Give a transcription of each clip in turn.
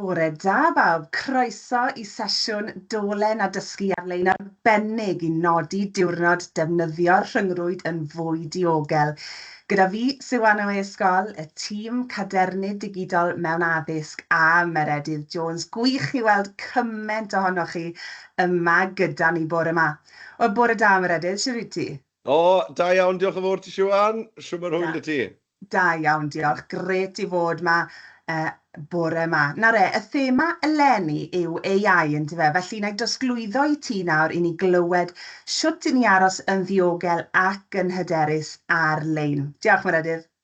Bore da bawb, croeso i sesiwn dolen a dysgu ar-lein arbennig i nodi diwrnod defnyddio'r rhyngrwyd yn fwy diogel. Gyda fi, Siw Anna Way Ysgol, y tîm Cadernid Digidol mewn Addysg a Meredydd Jones. Gwych i weld cyment ohonoch chi yma gyda ni bore 'ma. Wel, bore da Meredydd, shwt wyt ti? O, da iawn, diolch yn fawr ti Siwan, shwt mae rhwy'n dy ti? Da iawn, diolch, gret i fod ma uh, bore ma. Na re, y thema eleni yw AI yn dyfe, felly na i drosglwyddo i ti nawr i ni glywed shwt i ni aros yn ddiogel ac yn hyderus ar-lein. Diolch, Meredydd.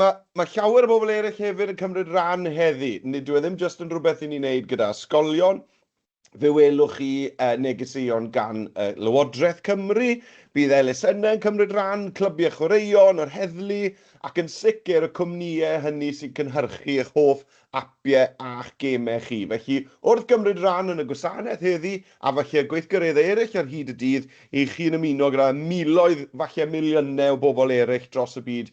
Mae, mae llawer o bobl eraill hefyd yn cymryd rhan heddi. Nid yw e ddim jyst yn rhywbeth i ni wneud gyda ysgolion. Fe welwch chi uh, negeseuon gan uh, Lywodraeth Cymru. Bydd elusennau yn cymryd rhan, clybiau chwaraeon, yr heddlu, ac yn sicr y cwmnïau hynny sy'n cynhyrchu eich hoff apiau a'ch gemau chi. Felly, wrth gymryd rhan yn y gwasanaeth heddi, a falle y gweithgareddau eraill ar hyd y dydd, i chi'n ymuno gyda miloedd, falle miliynau o bobl eraill dros y byd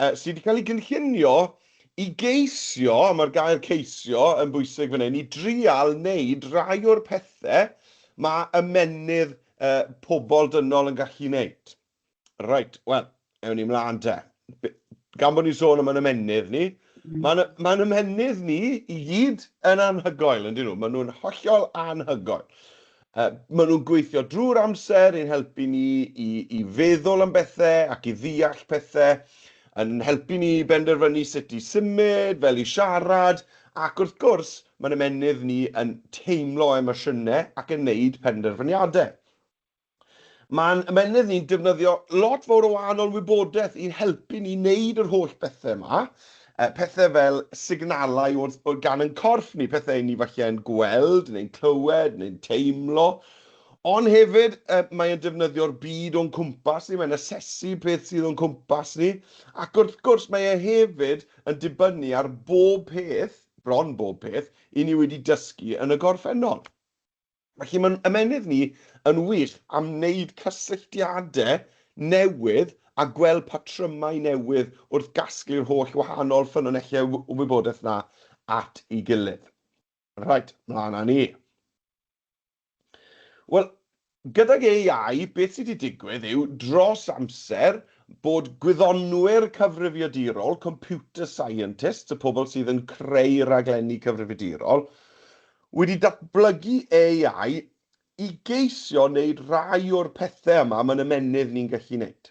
yy, sydd wedi cael ei gynllunio i geisio, a mae'r gair ceisio yn bwysig fan hyn, i drial wneud rai o'r pethau mae ymenydd uh, pobl dynol yn gallu wneud. Right, wel, ewn ni mlaen te. Gan bod ni'n sôn am yn ymenydd ni, mm. mae'n ma ymenydd ni i gyd yn anhygoel, yn dyn nhw. Maen nhw'n hollol anhygoel. Maen nhw'n gweithio drwy'r amser i'n helpu ni i feddwl am bethau ac i ddeall pethau, yn helpu ni i benderfynu sut i symud, fel i siarad, ac wrth gwrs, mae'n ymennydd ni yn teimlo emosiynau ac yn neud penderfyniadau. Mae'n ymennydd ni'n defnyddio lot fawr o wahanol wybodaeth i'n helpu ni neud yr holl bethau yma, Yy, pethe fel signalau o'r, o gan yn corff ni, pethe ni falle yn gweld, neu'n clywed, neu'n teimlo. Ond hefyd, yy, mae e'n defnyddio'r byd o'n cwmpas ni, mae'n asesu beth sydd o'n cwmpas ni, ac wrth gwrs mae e hefyd yn dibynnu ar bob peth, bron bob peth, i ni wedi dysgu yn y gorffennol. Felly mae'n ymennydd ni yn wych am wneud cysylltiadau newydd a gweld patrymau newydd wrth gasglu'r holl wahanol ffynonellau o wybodaeth yna at ei gilydd. Reit, mlaen â ni. Wel, gydag AI, beth sydd wedi digwydd yw, dros amser, bod gwyddonwyr cyfrifiadurol, computer scientists, y pobl sydd yn creu rhaglenni cyfrifiadurol, Wedi datblygu AI i geisio wneud rhai o'r pethau yma mae'n ymennydd ni'n gallu wneud.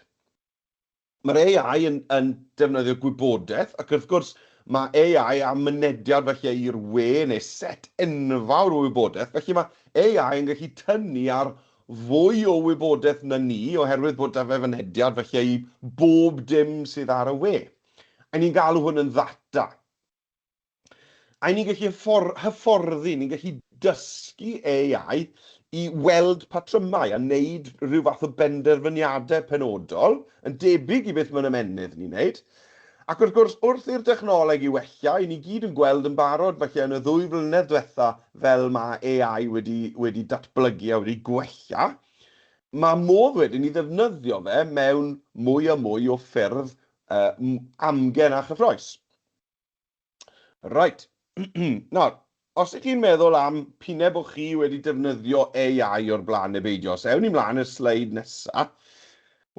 Mae'r AI yn yn defnyddio gwybodaeth ac wrth gwrs mae AI am mynediad falle i'r we neu set enfawr o wybodaeth felly mae AI yn gallu tynnu ar fwy o wybodaeth na ni oherwydd bod 'da fe fynediad falle i bob dim sydd ar y we. A ni'n galw hwn yn ddata. A ni'n gallu hyfforddi, ni'n gallu dysgu AI i weld patrymau a wneud rhyw fath o benderfyniadau penodol, yn debyg i beth mae'n ymennydd ni'n wneud. Ac wrth gwrs, wrth i'r dechnoleg i wella, i ni gyd yn gweld yn barod falle yn y ddwy flynedd diwetha' fel mae AI wedi wedi datblygu a wedi gwella, mae modd wedyn i ddefnyddio fe mewn mwy a mwy o ffyrdd amgen a chyffrous. Reit, nawr, os ydych chi'n meddwl am pine bod chi wedi defnyddio AI o'r blaen neu beidio, os ewn ni mlaen i'r sleid nesa,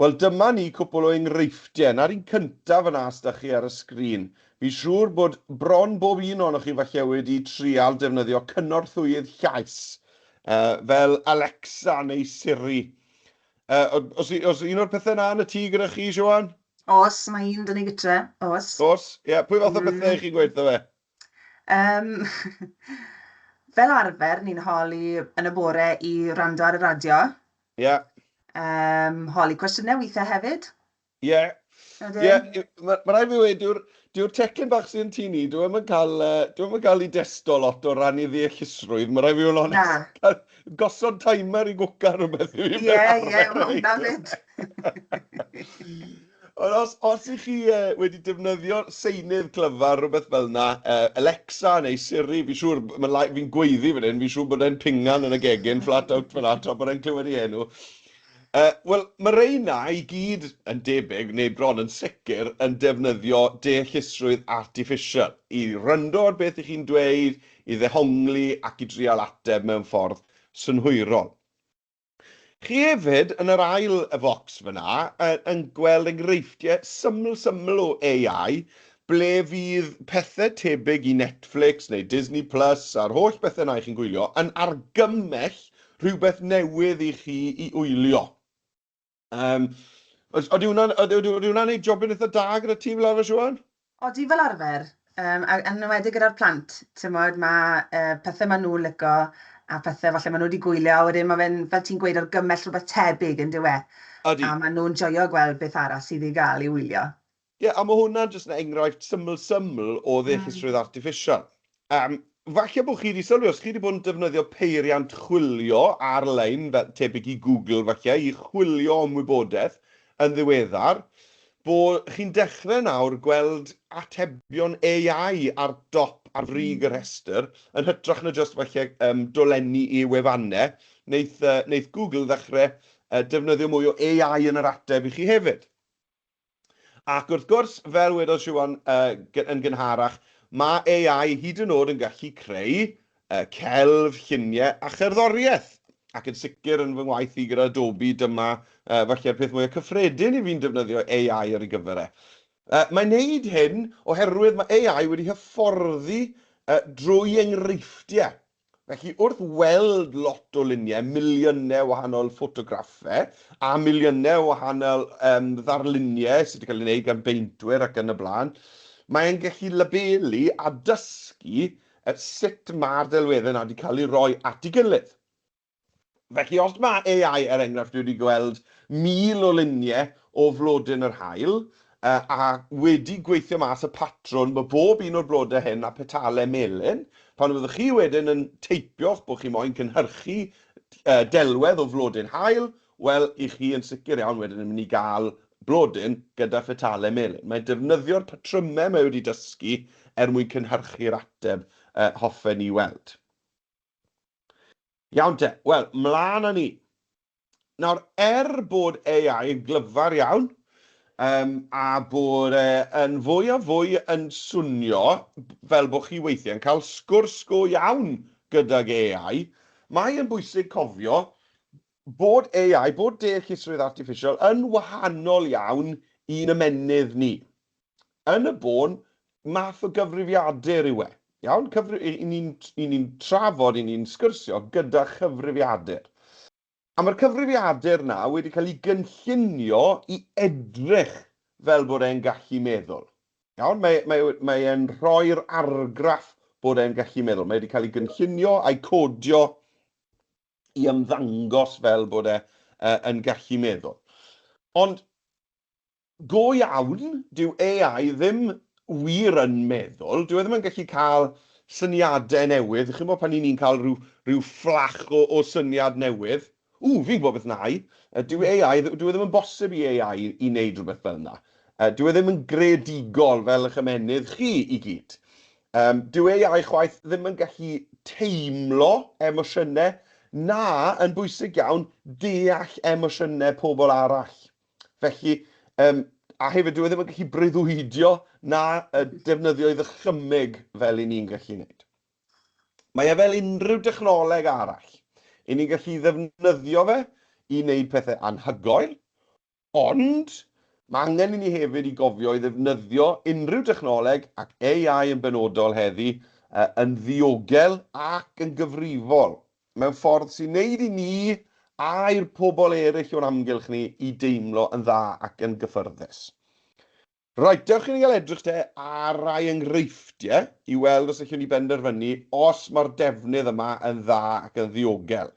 wel dyma ni cwpl o enghreifftiau. Na'r un cyntaf fan'na os da chi ar y sgrin. Fi'n siŵr bod bron bob un ohonoch chi falle wedi trial defnyddio cynorthwyydd llais, uh, fel Alexa neu Siri. Uh, os, os un o'r pethau yna yn y tŷ gyda chi, Siwan? Oes, mae un 'da ni gytre, oes. Oes, ie, pwy fath o bethau ych chi'n gweithio fe? Um, fel arfer, ni'n holi yn y bore i rando ar y radio. Ie. Yeah. Um, holi cwestiynau weithiau hefyd. Ie. Yeah. Ie, yeah. mae ma rai fi wedi, Dyw'r teclyn bach sy'n tŷ ni, dwi ddim yn cael, uh, dwi ddim yn cael ei desto lot o ran ei ddeallusrwydd, mae rhaid fi fod yn onest. Gosod timer i gwca rhywbeth i fi. Ie, ie, mae hwnna fyd. Ond os, os ych chi uh, wedi defnyddio seinydd clyfar, rhywbeth fel yna, uh, Alexa neu Siri, fi'n siŵr, fi'n gweiddi fan hyn, fi'n siŵr bod e'n pingan yn y gegin, flat out fan ato, bod e'n clywed ei enw. Yy, wel, ma' reina i gyd, yn debyg, neu bron yn sicr, yn defnyddio deallusrwydd artiffisial i wrando ar beth 'y chi'n dweud, i ddehongli ac i drial ateb mewn ffordd synhwyrol. Chi hefyd, yn yr ail focs fan'na, yn yn gweld enghreifftiau syml syml o AI, ble fydd pethe tebyg i Netflix neu Disney Plus a'r holl bethe 'na 'y chi'n gwylio yn argymell rhywbeth newydd i chi i wylio. Um, Oeddi hwnna'n hwnna neud jobyn eitha da gyda ti fel arfer, Siwan? Oeddi fel arfer, um, a yn ymwedig gyda'r plant, ti'n modd, mae uh, pethau maen nhw'n lygo a pethau falle maen nhw wedi gwylio, a wedyn mae fe'n, fel ti'n gweud, o'r gymell rhywbeth tebyg yn dywe. Ydy. A maen nhw'n joio gweld beth arall sydd i gael i wylio. Ie, a mae hwnna'n jyst yn enghraifft syml syml o ddeallusrwydd artiffisial. Yym, falle bod chi wedi sylwi, os chi wedi bod yn defnyddio peiriant chwilio ar-lein, fel tebyg i Google falle, i chwilio am wybodaeth yn ddiweddar, bod chi'n dechrau nawr gweld atebion AI ar dop, ar frig y rhestr, yn hytrach na jyst falle yym dolenni i wefannau. Wneith yy wneith Google ddechrau yy defnyddio mwy o AI yn yr ateb i chi hefyd. Ac wrth gwrs, fel wedodd Siwan yn gynharach, mae AI hyd yn oed yn gallu creu celf, lluniau a cherddoriaeth. Ac yn sicr yn fy ngwaith i gyda Adobe, dyma falle'r peth mwyaf cyffredin i fi'n defnyddio AI ar ei gyfer e. Mae'n wneud hyn oherwydd mae AI wedi hyfforddi drwy enghreifftiau Felly, wrth weld lot o luniau, miliynau o wahanol ffotograffau, a miliynau o wahanol um, ddarluniau sydd wedi cael ei wneud gan beintwyr ac yn y blaen, mae'n gallu labelu a dysgu sut mae'r delweddau yna wedi cael eu rhoi at ei gilydd. Felly, os mae AI, er enghraifft, wedi gweld 1,000 o luniau o flodyn yr haul, a wedi gweithio mas y patrwn bod bob un o'r blodau hyn â petalau melyn, pan fyddwch chi wedyn yn teipio'ch bod chi moyn cynhyrchu delwedd o flodyn haul, wel, 'y chi yn sicr iawn wedyn yn mynd i gael blodyn gyda phetalau melyn. Mae'n defnyddio'r patrymau mae wedi dysgu er mwyn cynhyrchu'r ateb hoffen ni weld. Iawn te, wel, mlaen â ni. Nawr, er bod AI yn glyfar iawn, um, a bod e yn fwy a fwy yn swnio fel bod chi weithiau yn cael sgwrs go iawn gydag AI, mae yn bwysig cofio bod AI, bod deallusrwydd artiffisial yn wahanol iawn i'n ymennydd ni. yn y bôn, math o gyfrifiadur yw e. Iawn? Cyfri-, i, i ni'n i ni'n trafod, i ni'n sgyrsio gyda chyfrifiadur. A mae'r cyfrifiadur na wedi cael ei gynllunio i edrych fel bod e'n gallu meddwl. Iawn? Mae, mae, mae e'n rhoi'r argraff bod e'n gallu meddwl. Mae wedi cael ei gynllunio a'i codio i ymddangos fel bod e uh, yn gallu meddwl. Ond Go iawn, dyw AI ddim wir yn meddwl, dyw e ddim yn gallu cael syniadau newydd, chi'n gwybod pan 'y ni'n cael rhyw rhyw fflach o o syniad newydd, ww, fi'n gwybod beth wna i! Dyw AI, dyw e ddim yn bosib i AI i wneud rhywbeth fel yna. Dyw e ddim yn greadigol fel y'ch ymennydd chi i gyd. Yym, dyw AI chwaith ddim yn gallu teimlo emosiynau, na, yn bwysig iawn, deall emosiynau pobl arall. Felly, um, a hefyd dwi e ddim yn gallu breuddwydio na defnyddio i ddychymyg fel i ni'n gallu gwneud. Mae e fel unrhyw dechnoleg arall. I ni'n gallu ddefnyddio fe i wneud pethau anhygoel, ond mae angen i ni hefyd i gofio i ddefnyddio unrhyw dechnoleg ac AI yn benodol heddi yn ddiogel ac yn gyfrifol mewn ffordd sy'n neud i ni a'r pobl eryll o'n amgylch ni i deimlo yn dda ac yn gyffyrddus. Reit, dewch i ni gael edrych te ar rai enghreifftiau i weld os allwn ni benderfynu os mae'r defnydd yma yn dda ac yn ddiogel.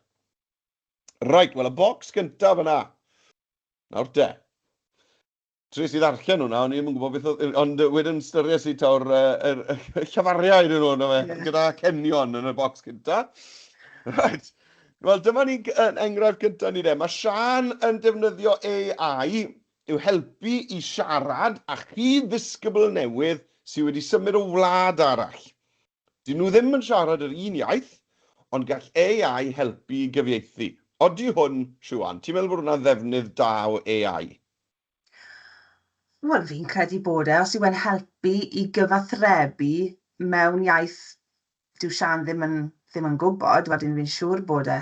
Reit, wel y bocs gyntaf yna. Nawr te. Tries i ddarllen hwnna, o'n i ddim yn gwybod beth oedd... Ond wedyn styries i tawr yr llafariau dyn nhw, na fe, yeah. gyda cenion yn y bocs cynta. Right. Wel, dyma ni enghraifft gyntaf ni de. Mae Sian yn defnyddio AI i'w helpu i siarad a chi ddisgybl newydd sydd wedi symud o wlad arall. Dyn nhw ddim yn siarad yr un iaith, ond gall AI helpu i gyfieithu. Odi hwn, Siwan, ti'n meddwl bod hwnna'n ddefnydd da o AI? Wel fi'n credu bod e, os yw e'n helpu i gyfathrebu mewn iaith dyw Siân ddim yn ddim yn gwybod, wedyn fi'n siŵr bod e.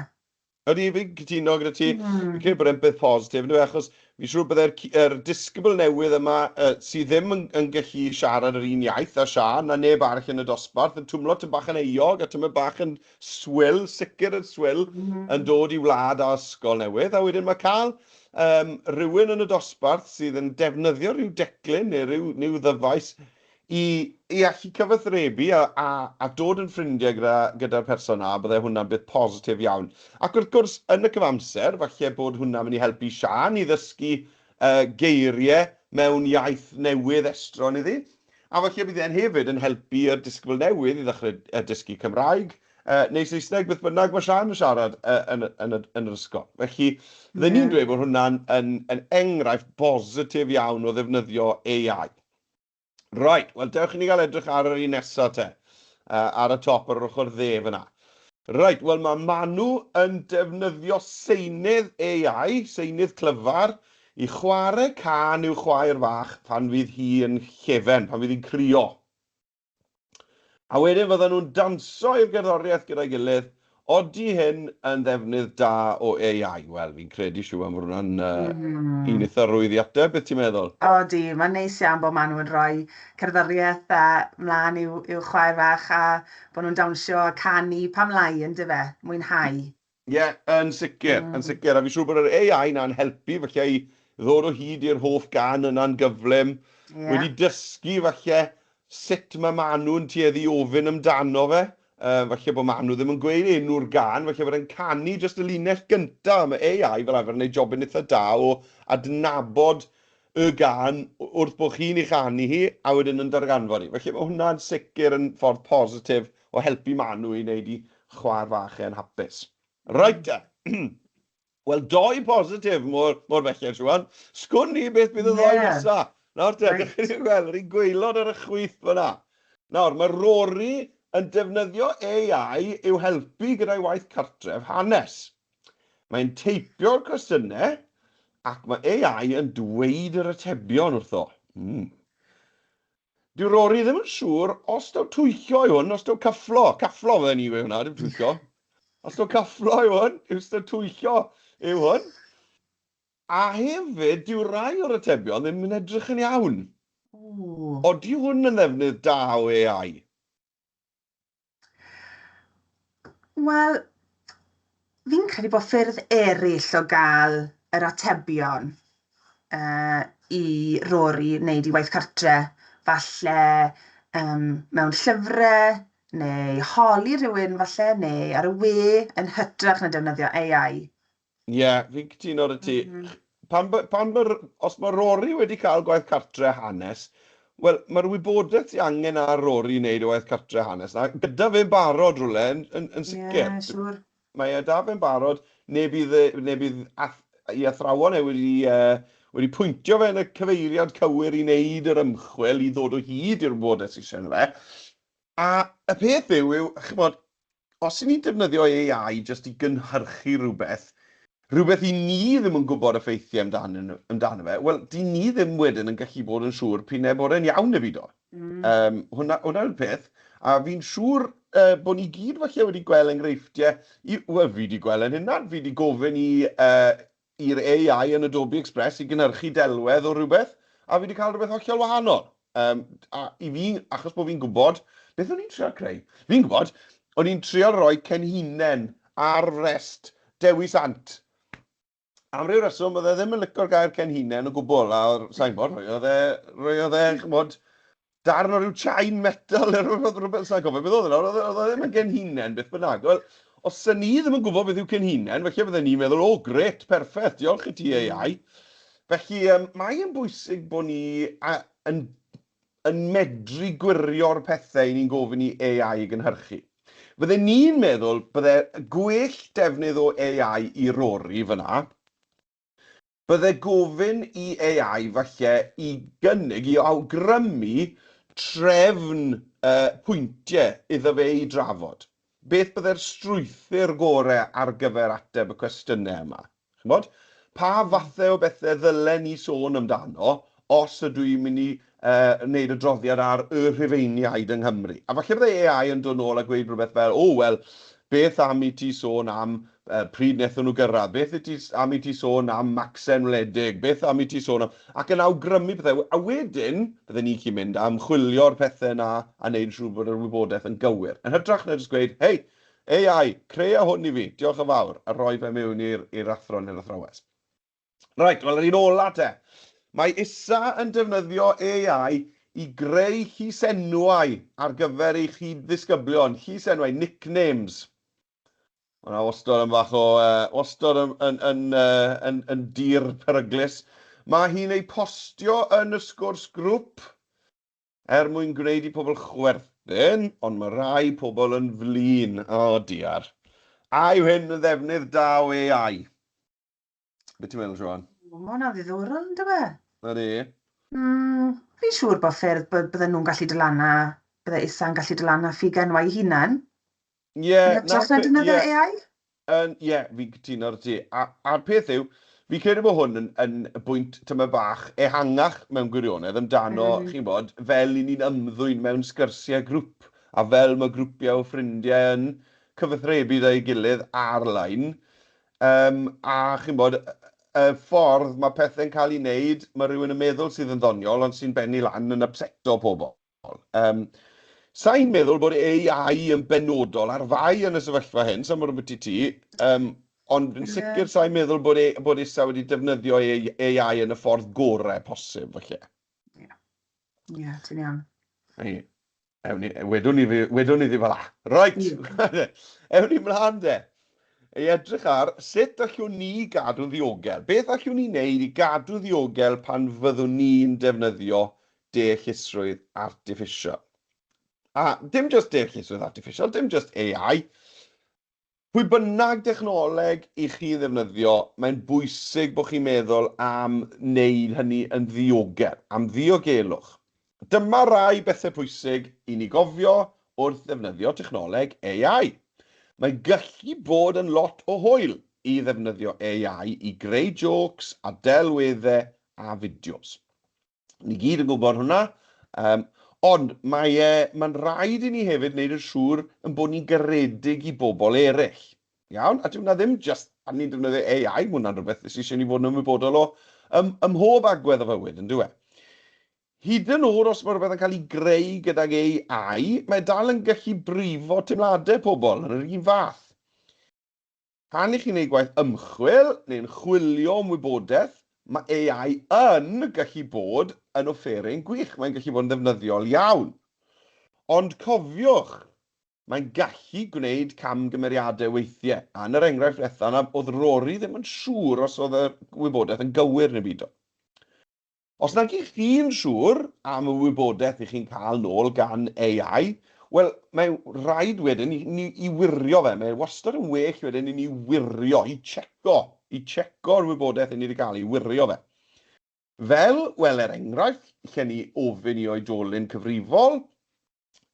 Ydy, fi'n cytuno gyda ti. Mm. Fi'n credu bod e'n beth positif yndyw e, achos fi'n siŵr bydde'r ci- yr disgybl newydd yma yy sy ddim yn yn gallu siarad yr un iaith â Siân na neb arall yn y dosbarth yn twmlo tym bach yn euog a tymed bach yn swil, sicr yn swil, yn dod i wlad a ysgol newydd. A wedyn mae cael um, rhywun yn y dosbarth sydd yn defnyddio rhyw declyn neu rhyw, rhyw ddyfais i, i allu cyfathrebu a, a, a dod yn ffrindiau gyda'r gyda, gyda person na, bydde hwnna'n beth positif iawn. Ac wrth gwrs, yn y cyfamser, falle bod hwnna'n mynd i helpu Sian i ddysgu uh, geiriau mewn iaith newydd estron iddi. A falle bydd e'n hefyd yn helpu y disgybl newydd i ddechrau dysgu Cymraeg, neu Saesneg, beth bynnag mae Siân yn siarad yn yr ysgol. Felly, fydden i'n dweud bod hwnna'n enghraifft bositif iawn o ddefnyddio AI. Reit, wel dewch i ni gael edrych ar yr un nesaf te, ar y top ar yr ochr dde fan'na. Reit, wel mae Manu yn defnyddio seinydd AI, seinydd clyfar, I chwarae cân i'w chwaer fach pan fydd hi yn llefen, pan fydd hi'n crio. A wedyn fyddan nhw'n danso i'r gerddoriaeth gyda'i gilydd. Odi hyn yn ddefnydd da o AI? Wel, fi'n credu, Siwan, fod hwnna'n un eitha rwydd i ateb. Beth ti'n meddwl? Odi, mae'n neis iawn bod maen nhw yn rhoi cerddoriaeth dda mlaen i'w chwaer fach a bod nhw'n dawnsio a canu, pam lai, yndyfe? Mwynhau. Ie, yn sicr, yn sicr. A fi'n siŵr bod yr AI 'na'n helpu falle i ddod o hyd i'r holl gân yna'n gyflym. Ie. Wedi dysgu falle sut mae Manu'n tueddu ofyn amdano fe. Yy, falle bod Manu ddim yn gweud enw'r gân, falle bod e'n canu jyst y linell gynta'. Mae AI fel arfer yn neud jobyn itha da o adnabod y gân wrth bo' chi'n ei chanu hi, a wedyn yn darganfod hi. Felly ma' hwnna'n sicr yn ffordd positif o helpu Manu i wneud i chwaer fach e'n hapus. Reit te! Wel, dou bositif mor belled, Siwan. Sgwn ni beth bydd y ddoe nesa. Nawr te, dych chi'n gweld, yr un gwaelod ar y chwith fyna. Nawr, mae Rory yn defnyddio AI i'w helpu gyda'i waith cartref hanes. Mae'n teipio'r cwestiynau ac mae AI yn dweud yr atebion wrtho. Mm. Dyw Rory ddim yn siŵr os daw twyllo yw hwn, os daw cyfflo. Cyfflo fydden ni yw hwnna, dim twyllo. Os daw cyfflo yw hwn, yw os daw twyllo yw hwn. A hefyd, dyw rai o'r atebion ddim yn edrych yn iawn. Odi hwn yn ddefnydd da o AI? Wel, fi'n credu bod ffyrdd eraill o gael yr atebion uh, i Rory wneud i waith cartre. Falle um, mewn llyfrau, neu holi rhywun falle, neu ar y we yn hytrach na defnyddio AI. Ie, fi'n cytuno 'da ti. M-hm. Pan b- pan ma'r... Os mae Rory wedi cael gwaith cartre hanes, wel, mae'r wybodaeth sydd angen ar Rory i wneud y waith cartre hanes 'na, gyda fe'n barod rywle, yn yn yn sicr. Ie, siŵr. Mae e 'da fe'n barod, neu bydd e... neu bydd ath- i athrawon e wedi yy wedi pwyntio fe yn y cyfeiriad cywir i wneud yr ymchwil i ddod o hyd i'r wybodaeth sy isie ynddo fe. A y peth yw, yw, ch'mod, os 'yn ni'n defnyddio AI jyst i gynhyrchu rhywbeth, rhywbeth i ni ddim yn gwybod effeithiau amdano nhw, amdano fe, wel, 'dyn ni ddim wedyn yn gallu bod yn siŵr p'un ai bod e'n iawn neu beidio. Yym, hwnna, hwnna yw'r peth. A fi'n siŵr yy, bod ni gyd falle wedi gweld enghreifftiau, i- wel, fi 'di gweld e'n hunan, fi 'di gofyn i yy, i'r AI yn Adobe Express i gynhyrchu delwedd o rywbeth, a fi 'di cael rhywbeth hollol wahanol. Yym, a i fi, achos bod fi'n gwybod beth o'n i'n trio creu. Fi'n gwybod, o'n i'n trio rhoi Cenhinen ar frest Dewi Sant. Am ryw reswm, oedd e ddim yn licio'r gair Cenhinen o gwbl, a sa i'n gwybod, roedd e, roedd e, chimod, darn o ryw chain metal, neu rhywbeth, rhywbeth, sa'n cofio beth oedd yna, oedd oedd ddim yn genhinen beth bynnag. Wel, os sy'n ni ddim yn gwybod beth yw cenhinen, felly bydden ni'n meddwl, o, oh, gret, perffaith, diolch i ti ei hmm. ai. Felly, um, mae'n bwysig bod ni a, yn, yn medru gwirio'r pethau i ni'n gofyn i AI i gynhyrchu. Fydden ni'n meddwl bydde gwell defnydd o AI i rori fyna, Bydde gofyn i AI falle i gynnig, i awgrymu trefn y pwyntiau iddo fe eu drafod. Beth bydde'r strwythur gore ar gyfer ateb y cwestiynau yma? Chimod? Pa fathau o bethe ddylen ni sôn amdano os ydw i'n mynd i wneud adroddiad ar Y Rhufeiniaid yng Nghymru. A falle byddai AI yn dod nôl a gweud rhywbeth fel, O, wel, beth am i ti sôn am pryd wnaethon nhw gyrraedd? Beth i ti, am i ti sôn am Macsen Wledig? Beth am i ti sôn am... ac yn awgrymu pethau. A wedyn, bydden ni'n gallu mynd a ymchwilio'r pethau yna a wneud yn siŵr bod yr wybodaeth yn gywir. Yn hytrach na jyst gweud, Hei, AI, crea hwn i fi, diolch yn fawr, a rhoi fe mewn i'r athro neu'r athrawes. Reit, wel yr un ola te. Mae isa yn defnyddio AI i greu llysenwau ar gyfer ei chyd-ddisgyblion, llysenwau, nicknames. Mae hwnna wastod yn fach o, uh, wastod yn, yn, yn, uh, yn, yn dir peryglus. Mae hi'n ei postio yn y sgwrs grŵp er mwyn gwneud i pobl chwerthin, ond mae rhai pobl yn flin. O, diar. A yw hyn yn ddefnydd da o AI? Be ti'n meddwl, Siôn? O, mae hwnna'n ddiddorol, yn dywe? Yr e? Mm, fi'n siŵr bod ffyrdd bod bydden nhw'n gallu dylana, bydde Isa'n gallu dylana ffiga nhw ei hunan. Ie, yeah, nawr... Yn hytrach na yeah. AI? Ie, yeah, fi'n cytuno ar ti. A'r peth yw, fi credu bod hwn yn, yn bwynt tyma bach ehangach mewn gwirionedd amdano, mm. chi'n bod, fel i ni'n ymddwyn mewn sgyrsiau grŵp, a fel mae grwpiau o ffrindiau yn cyfathrebu dda'i gilydd ar-lein, Yym, a chimod, y ffordd mae pethe'n cael ei wneud, mae rhywun yn meddwl sydd yn ddoniol ond sy'n bennu lan yn ypseto pobl. Yym, sa i'n meddwl bod AI yn benodol ar fai yn y sefyllfa hyn, sa i'n gwybod ambiti ti, yym, ond yn sicr sa i'n meddwl bod e, bod ISA wedi defnyddio AI yn y ffordd gorau posib, falle. Ie, ti'n iawn. Ie. Ewn ni, wedwn ni, wedwn ni ddi fel a. Right, ewn ni mlaen de. Ei edrych ar sut allwn ni gadw'n ddiogel. Beth allwn ni wneud i gadw ddiogel pan fyddwn ni'n defnyddio deallusrwydd artiffisial? A dim just deallusrwydd artiffisial, dim just AI, Pwy bynnag dechnoleg i chi'n ddefnyddio, mae'n bwysig bod chi'n meddwl am wneud hynny yn ddiogel, am ddiogelwch. Dyma rai bethau pwysig i ni gofio wrth ddefnyddio technoleg AI. Mae'n gallu bod yn lot o hwyl i ddefnyddio AI i greu jôcs a delweddau a fideos. Ni gyd yn gwybod hwnna. Um, ond mae e, mae'n rhaid i ni hefyd wneud yn siŵr yn bod ni'n garedig i bobl eraill. Iawn? A dwi'n ddim just, a ni'n defnyddio AI, mae hwnna'n rhywbeth sy'n eisiau ni fod yn ymwybodol o ym, ym mhob agwedd o fywyd, yn dweud. Hyd yn oed os mae rhywbeth yn cael ei greu gydag AI, mae dal yn gallu brifo teimladau pobl yn yr un fath. Pan i chi'n ei gwaith ymchwil neu'n chwilio am wybodaeth, mae AI yn gallu bod yn offeryn gwych, mae'n gallu bod yn ddefnyddiol iawn. Ond cofiwch, mae'n gallu gwneud camgymeriadau weithiau, a yn yr enghraifft ddiwetha' 'na o'dd Rory ddim yn siŵr os o'dd y wybodaeth yn gywir neu beidio. Os nag ych chi'n siŵr am y wybodaeth ych chi'n cael nôl gan AI, wel, mae rhaid wedyn i ni i wirio fe. Mae wastad yn well wedyn i ni wirio, i tseco, i tseco'r wybodaeth i ni wedi cael, i wirio fe. Fel, wel, er enghraifft, lle ni ofyn i oedolyn cyfrifol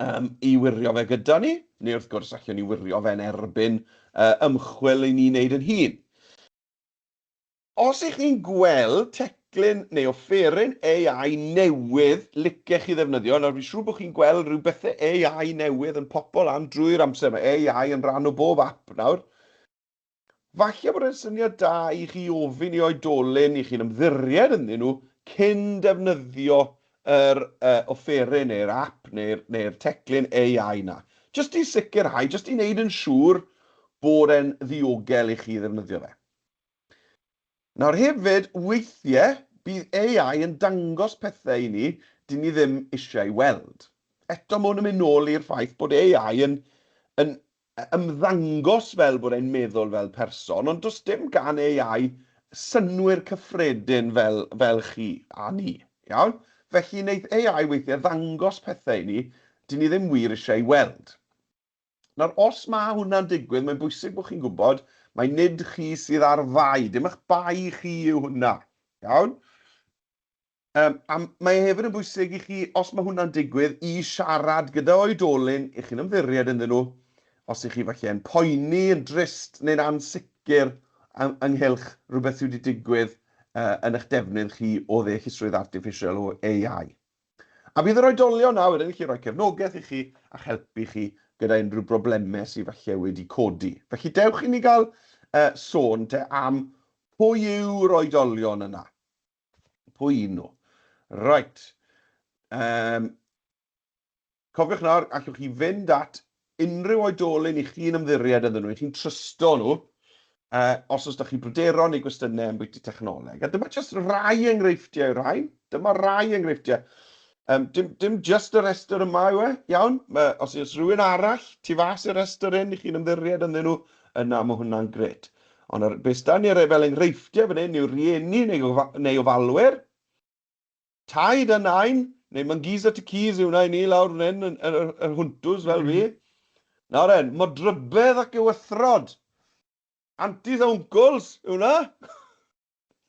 um, i wirio fe gyda ni, neu wrth gwrs, allwn ni wirio fe yn erbyn uh, ymchwil i ni wneud yn hun. Os ych chi'n gweld teclyn neu offeryn AI newydd licech chi ddefnyddio, nawr fi'n siŵr bod chi'n gweld rhyw bethe AI newydd yn popo lan drwy'r amser, mae AI yn rhan o bob app nawr. Falle bod e'n syniad da i chi ofyn i oedolyn i chi'n ymddiried ynddyn nhw cyn defnyddio yr uh, offeryn neu'r app neu'r, neu'r teclyn AI na. Jyst i sicrhau, jyst i wneud yn siŵr bod e'n ddiogel i chi ddefnyddio fe. Nawr hefyd, weithie, bydd AI yn dangos pethe i ni dyn ni ddim eisiau weld. Eto ma hwn yn mynd nôl i'r ffaith bod AI yn yn ymddangos fel bod e'n meddwl fel person, ond does dim gan AI synnwyr cyffredin fel fel chi a ni. Iawn? Felly neith AI weithie ddangos pethe i ni dyn ni ddim wir eisiau weld. Nawr, os mae hwnna'n digwydd, mae'n bwysig bod chi'n gwybod mai nid chi sydd â'r fai, dim eich bai chi yw hwnna. Iawn? Um, a mae hefyd yn bwysig i chi, os mae hwnna'n digwydd, i siarad gyda oedolyn i chi'n ymddiried ynddyn nhw, os ych chi falle yn poeni, yn drist neu'n ansicr ynghylch rhywbeth sydd wedi digwydd uh, yn eich defnydd chi o ddeallusrwydd artiffisial o AI. A bydd yr oedolion awyr yn gallu rhoi cefnogaeth i chi a'ch helpu chi gyda unrhyw broblemau sydd falle wedi codi. Felly dewch i ni gael uh, sôn te am pwy yw'r oedolion yna. Pwy un nhw? Right. Um, Cofiwch nawr, allwch chi fynd at unrhyw oedolyn i chi'n ymddiried ynddyn nhw, i chi'n trysto nhw, uh, os oes da chi bryderon neu gwestiynau am bwyty technoleg. A dyma jyst rai enghreifftiau o'r rhain. Dyma rai enghreifftiau. Um, dim, dim just y rhestr yma yw e, iawn? Ma, os oes rhywun arall tu fas i'r rhestr hyn i chi'n ymddiried ynddyn nhw, yna mae hwnna'n gret. Ond ar, beth da ni ar e- fel enghreifftiau fan hyn yw rieni neu, neu ofalwyr, Taid a Nain, neu Mongeys at y Keys yw nain i lawr fan hyn yn yr, yr hwntws fel fi. Nawr en, modrybedd ac ewythrod. Antis a wncwls yw hwnna.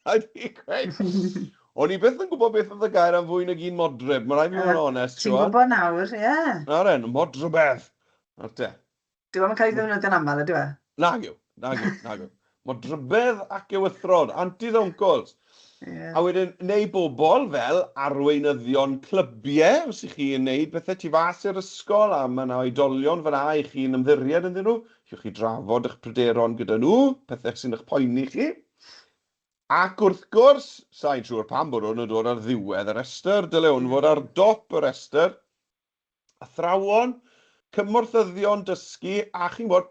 Rhaid fi gweud. O'n i byth yn gwybod beth oedd y gair am fwy nag un modryb, mae rhaid fi fod yn onest. Ti'n gwybod nawr, ie. Yeah. Nawr en, modrybedd. Nawr te. Dyw e ddim yn cael ei ddefnyddio'n aml, ydyw e? Nag yw, nag yw, nag yw. Mae'n drybedd ac ewythrod, anti's oncles. Ie. A wedyn, neu bobl fel arweinyddion clybiau, os ych chi'n wneud pethau tu fas i'r ysgol a mae yna oedolion fan'na i chi'n ymddiried ynddyn nhw, allwch chi drafod eich pryderon gyda nhw, pethau sy'n eich poeni chi. Ac wrth gwrs, sa i'n siŵr pam bod hwn yn dod ar ddiwedd y rhestr, dyle hwn fod ar dop y rhestr, athrawon, cymorthyddion dysgu a chi'n gwybod,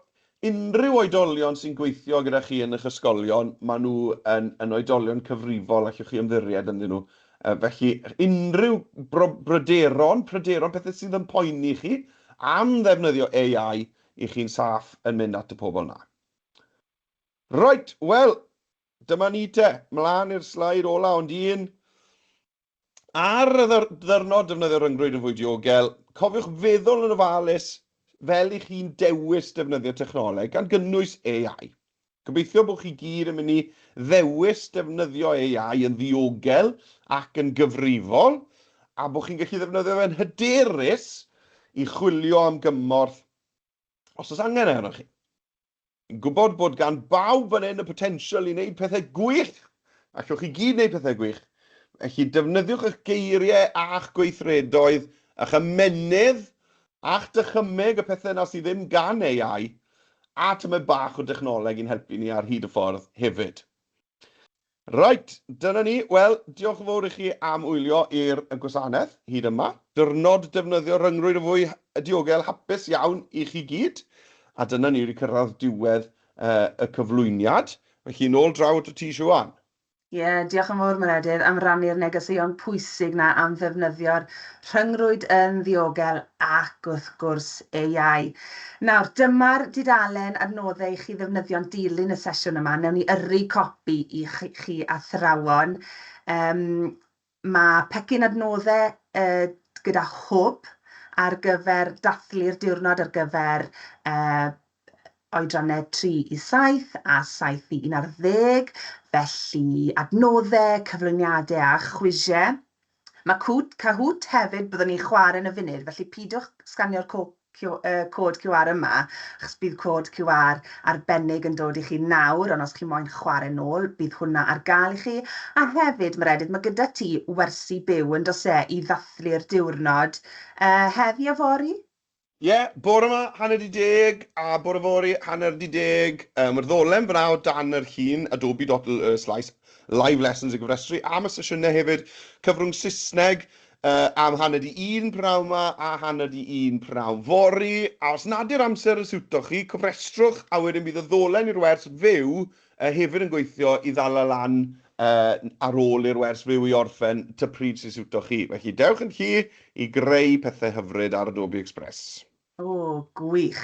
unrhyw oedolion sy'n gweithio gyda chi yn eich ysgolion, maen nhw yn yn oedolion cyfrifol, allwch chi ymddiried ynddyn nhw. Yy felly, unrhyw bro- bryderon, pryderon, pethau sydd yn poeni chi am ddefnyddio AI, 'y chi'n saff yn mynd at y pobl 'na. Reit, wel, dyma ni te, mlaen i'r sleid ola, ond un Ar y ddiwrnod, defnyddio rhyngrwyd yn fwy diogel. Cofiwch feddwl yn ofalus fel i chi'n dewis defnyddio technoleg, gan gynnwys AI. Gobeithio bod chi gyd yn mynd i ddewis defnyddio AI yn ddiogel ac yn gyfrifol, a bod chi'n gallu ddefnyddio fe'n hyderus i chwilio am gymorth os oes angen e arnoch chi. Yn gwybod bod gan bawb fan hyn y potensial i wneud pethau gwych, allwch chi gyd wneud pethau gwych, felly defnyddiwch eich geiriau a'ch gweithredoedd, a'ch ymennydd, a'ch dychymyg, y pethau yna sydd ddim gan AI, a tymed bach o dechnoleg i'n helpu ni ar hyd y ffordd hefyd. Reit, dyna ni. Wel, diolch yn fawr i chi am wylio i'r gwasanaeth hyd yma. Diwrnod defnyddio rhyngrwyd yn fwy diogel hapus iawn i chi gyd. A dyna ni wedi cyrraedd diwedd y cyflwyniad. Felly nôl draw atat ti Siwan. Ie, diolch yn fawr Meredydd am rannu'r negeseuon pwysig 'na am ddefnyddio'r rhyngrwyd yn ddiogel ac wrth gwrs AI. Nawr, dyma'r dudalen adnoddau i chi ddefnyddio yn dilyn y sesiwn yma. Wnewn ni yrru copi i chi athrawon. Yym, mae pecyn adnoddau yy gyda hwb ar gyfer dathlu'r diwrnod ar gyfer yy oedrannau 3 i 7 a 7 i 11, felly adnoddau, cyflwyniadau a chwisiau. Mae Cwt, Cahoot, hefyd, byddwn ni'n chwarae yn y funud, felly peidiwch sganio'r cod QR yma, achos bydd cod QR arbennig yn dod i chi nawr, ond os chi moyn chwarae nôl, bydd hwnna ar gael i chi. A hefyd, Meredydd, mae gyda ti wersi byw, yn does e, i ddathlu'r diwrnod, uh, heddi a fory? Ie, bore 'ma, hanner 'di deg, a bore fory, hanner 'di deg. Yy, mae'r ddolen fan'na o dan yr hen Adobe Doddle y Slais, live lessons i gyfrestru am y sesiynau hefyd, cyfrwng Saesneg yy am hanner 'di un p'nawn 'ma a hanner 'di un p'nawn fory. A os nad yw'r amser yn siwto chi, cofrestrwch a wedyn bydd y ddolen i'r wers fyw A hefyd yn gweithio i ddala lan ar ôl i'r wers fyw i orffen ta pryd sy'n siwto chi. Felly, dewch yn llu i greu pethau hyfryd ar Adobe Express. O, gwych!